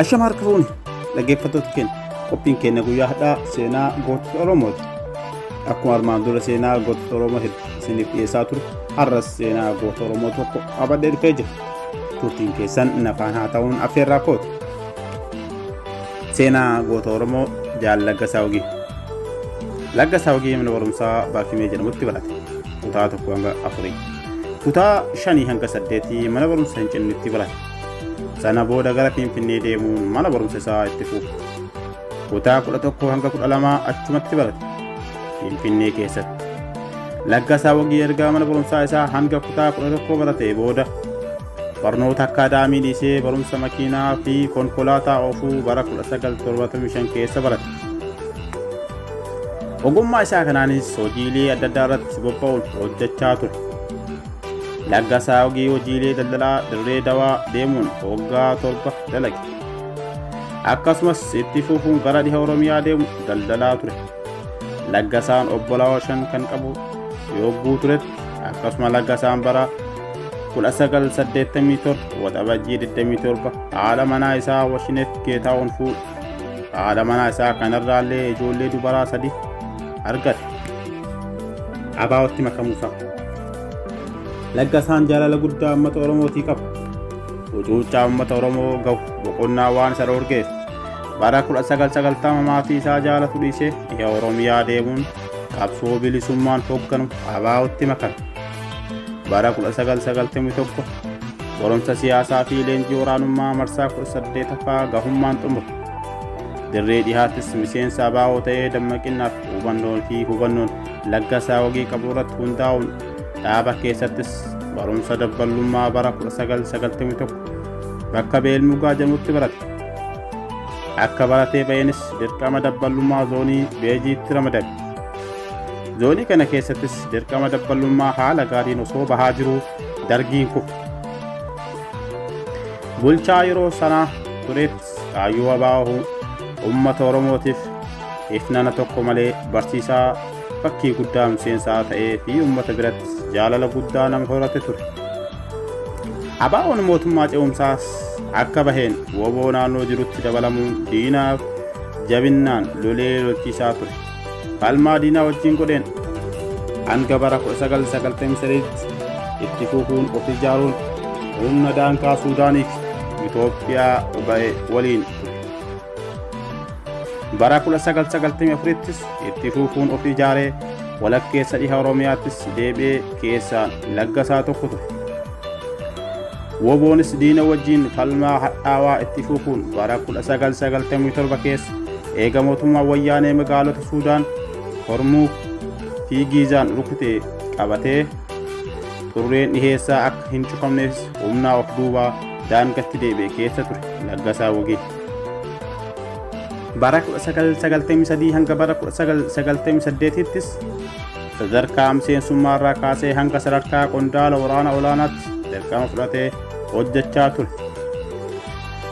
Ashama harka fuuni dhaggeeffattoota keenya qophiin keenya guyyaa hadhaa seenaa gootota Oromooti. Akkuma armaan dura seenaa gootota Oromoo hedduu isiniif dhiyeessaa ture har'as seenaa goota Oromoo tokko qabadhee dhufee jira. Turtiin keessan nafaan haa ta'uun affeerraa kooti. Seenaa goota Oromoo jaal Laggasaa Ogii. Laggasaa Ogii mana barumsaa Baakimee jedhamutti barate. Kutaa tokko hanga afurii. Kutaa shanii hanga saddeetii mana barumsa hin cinnitti barate. Sana booda gara Finfinnee deemuun mana barumsa isaa itti fufe. Kutaa kudha tokko hanga kudha lamaa achumatti barate. Finfinnee keessatti. Laggasaa Wagii ergaa mana barumsaa isaa hanga kutaa kudha tokkoo baratee booda Barnoota akkaadaamii dhiisee barumsa makiinaa fi konkolaataa oofuu bara 1975 keessa barate. Ogummaa isaa kanaanis hojiilee adda addaa irratti bobba'uun hojjechaa ture. Laggasaa ogii hojiilee daldalaa dirree dawaa deemuun waggaa torba dalage. Akkasumas itti fufuun gara dhiha Oromiyaa deemu daldalaa ture. Laggasaan obbolaa shan kan qabu yogguu turetti akkasuma laggasaan bara 1987 Waxabajjii 27 haadha manaa isaa Washineef Geetaahuun fuudhe. Haadha manaa isaa kanarraallee ijoollee dubaraa sadi argate. Abaawotti makamuusaa. Laggasaan jaalala guddaa uummata Oromootii qaba. Ucuuccaa uummata Oromoo gahu boqonnaa waan isa dhorgeef bara 1990 maatii isaa jaalatu dhiisee biyya Oromiyaa deemuun qabsoo bilisummaan hoogganu Abaawotti makame. Bara 1991 barumsa siyaasaa fi leenjii waraanummaa marsaa 18ffaa gahummaan xumure. Dirree dhihaattis miseensa abaa'oo ta'ee dammaqinnaaf hubannoo fi hubannoon laggasaa hogii qabu irratti hundaa'uun dhaaba keessattis barumsa dabballummaa bara 1991 bakka beelmugaa jedhamutti barate. Akka baratee ba'eenis dirqama dabballummaa zoonii beejiitti ramadame. Zoonii kana keessattis dirqama dabballummaa haala gaariin osoo bahaa jiru dargiin kufe. Bulchaa yeroo sanaa turetti kaayyoo abaa'oo uummata Oromootiif ifnana tokko malee barsiisaa fakkii guddaa miseensaa ta'ee fi uummata birattis jaalala guddaa nama horate ture. Abaa'oon mootummaa ce'umsaas akka baheen woboo naannoo jirutti dabalamuun diinaaf jabinnaan lolee lolchiisaa ture. Falmaa diinaa wajjin godheen hanga bara 1993tti itti fufuun of ijaaruun humna daangaa Suudaaniif Itoophiyaa ba'e waliin. Bara 1994ttis itti fufuun of ijaaree walakkeessa dhiha Oromiyaattis deebi'ee keessaa laggasaa tokko ture. Woboonis diina wajjin falmaa hadhaawaa itti fufuun bara 1997 keessa eega mootummaa wayyaanee magaalota Suudaan, Hormuuf fi Giizaan rukute qabatee xurreen dhiheessaa akka hin cufamneef humnaa of duubaa daangatti deebi'e keessa ture Laggasaa Wagee. Bara 1993 hanga bara 1998ttis sadarkaa miseensummaa irraa kaasee hanga sadarkaa qondaala waraana olaanaatti dirqama fudhatee hojjechaa ture.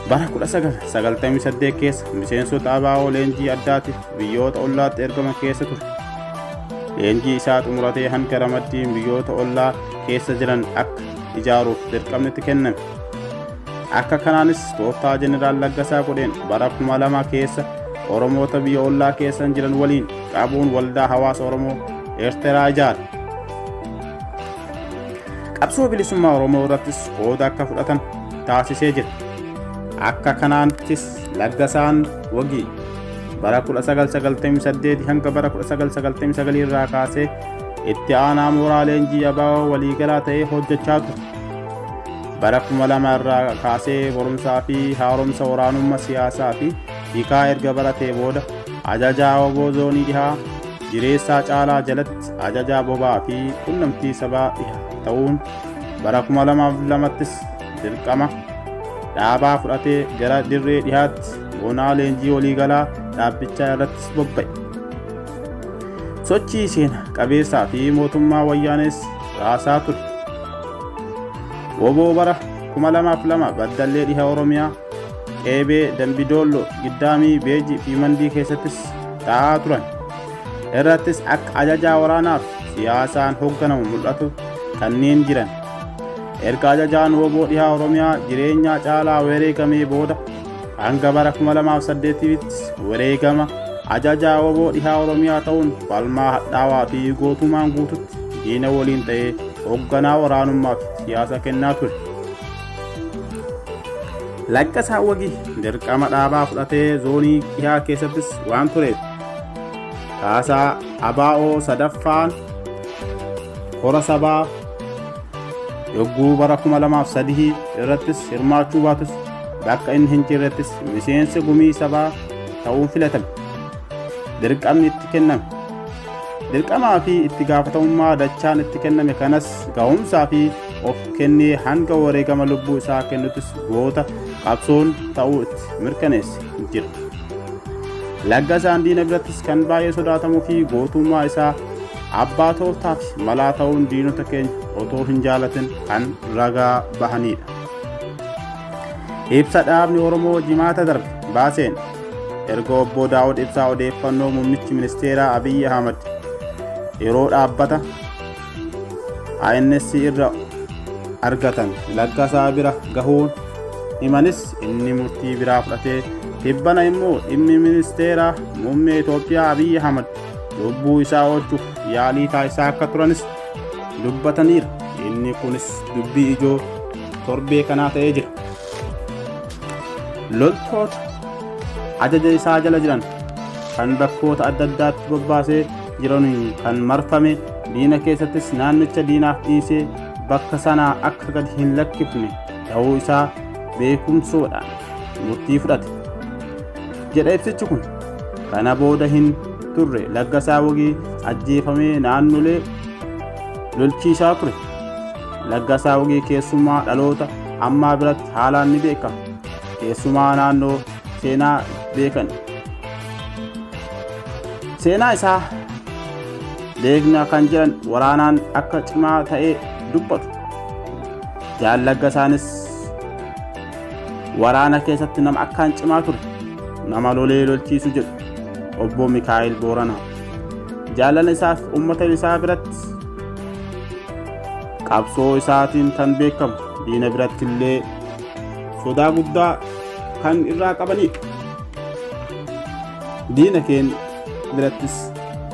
Bara 1998 keessa miseensota ABO leenjii addaatiif biyyoota ollaatti ergaman keessa ture. Leenjii isaa xumuratee hanga ramaddiin biyyoota ollaa keessa jiran akka ijaaruuf dirqamni itti kenname. Akka kanaanis tooftaa Jeneraal Laggasaa godheen bara 2000 keessa Oromoota biyya ollaa keessan jiran waliin Qabuun waldaa hawaasa Oromoo Eerteraa ijaare. Qabsoo bilisummaa Oromoo irrattis qooda akka fudhatan taasisee jira. Akka kanaantis laggasaan wagii bara 1998 hanga bara 1999 irraa kaasee itti aanaa mooraa leenjii abaaboo waliigalaa ta'ee hojjechaa ture. Bara 2000 irraa kaasee barumsaa fi haaromsa waraanummaa siyaasaa fi hiikaa erga baratee booda Ajajaa Oboo Zoonii Dhihaa Jireessaa Caalaa jalatti ajajaa bobaa fi qunnamtii sabaa dhiha ta'uun bara 2002ttis dirqama dhaabaa fudhatee gara dirree dhihaatti boonaa leenjii waliigalaa dhaabbichaa irrattis bobba'e. Sochii seena qabeessaa fi mootummaa wayyaanees raasaa ture. Woboo bara 2002 baddallee dhiha Oromiyaa qeebee dambidoollo giddaamii beeji fi mandii keessattis ta'aa turan irrattis akka ajajaa waraanaaf siyaasaan hoogganamu mul'atu kanneen jiran erga ajajaan wooboo dhihaa oromiyaa jireenyaa caalaa wareegamee booda hanga bara 2008ttis wareegama ajajaa wooboo dhihaa oromiyaa ta'uun falmaa hadhaawaa fi gootumaan guututti diina waliin ta'ee hoogganaa waraanummaaf siyaasa kennaa ture Laqqasaa Wagii dirqama dhaabaa fudhatee zoonii dhihaa keessattis waan tureef kaasaa abaa'oo sadaffaan kora sabaa yogguu bara 2003 irrattis hirmaachuu baatus bakka inni hin jirrettis miseensa gumii sabaa ta'uun filatame. Dirqamni itti kenname. Dirqamaa fi itti gaafatamummaa dachaan itti kenname kanas ga'umsaa fi of kennee hanga wareegama lubbuu isaa kennutis goota qabsoon ta'uu itti mirkaneesse jira. Laggasaan diina birattis kan baay'ee sodaatamuu fi gootummaa isaa abbaa tooftaa fi malaa ta'uun diinota keenya otoo hin jaalatin kan ragaa bahanidha. Ibsa dhaabni Oromoo jimaata darbe baaseen erga obbo Daawud Ibsaa odeeffannoo muummichi ministeeraa Abiyyi Ahmad yeroo dhaabbata ANS irra argatan laggasaa bira gahuun himanis inni murtii biraa fudhatee tibbana immoo dhimmi ministeera muummee Itoophiyaa Abiyyi Ahmad lubbuu isaa oolchuuf yaalii taasisaa akka turanis dubbataniiru. Inni kunis dubbii ijoo torbee kanaa ta'ee jira. Loltoota ajaja isaa jala jiran kan bakkoota adda addaatti bobbaasee jiran kan marfame diina keessattis naannicha diinaaf dhiisee bakka sanaa akka gad hin lakkifne ta'uu isaa beekumsoodhaan murtii fudhate jedha ibsichi kun kana booda hin turre laggasaa wagii ajjeefamee naannolee lolchiisaa ture laggasaa wagii keessumaa dhaloota ammaa biratti haalaan ni beekama keessumaa naannoo seenaa beekan seenaa isaa beekna kan jiran waraanaan akka cimaa ta'ee dubbatu jaallagga isaanis waraana keessatti nama akkaan cimaa ture nama lolee lolchiisu jedhu obbo mikaa'el booranaa jaalala isaaf uummata isaa biratti qabsoo isaatiin kan beekamu diina biratti illee sodaa guddaa kan irraa qabaniidha. Diina keenya birattis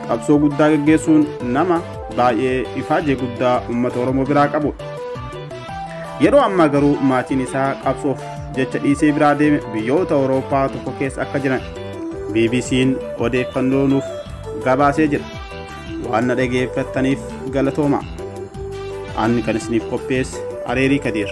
qabsoo guddaa geggeessuun nama baay'ee ifaajee guddaa uummata Oromoo biraa qabudha. Yeroo ammaa garuu maatiin isaa qabsoof jecha dhiisee biraa deeme biyyoota Awurooppaa tokko keessa akka jiran BBC'n odeeffannoo nuuf gabaasee jira. Waan na dhageeffattaniif galatoomaa. Ani kan isiniif qopheesse Areerii Kadiir.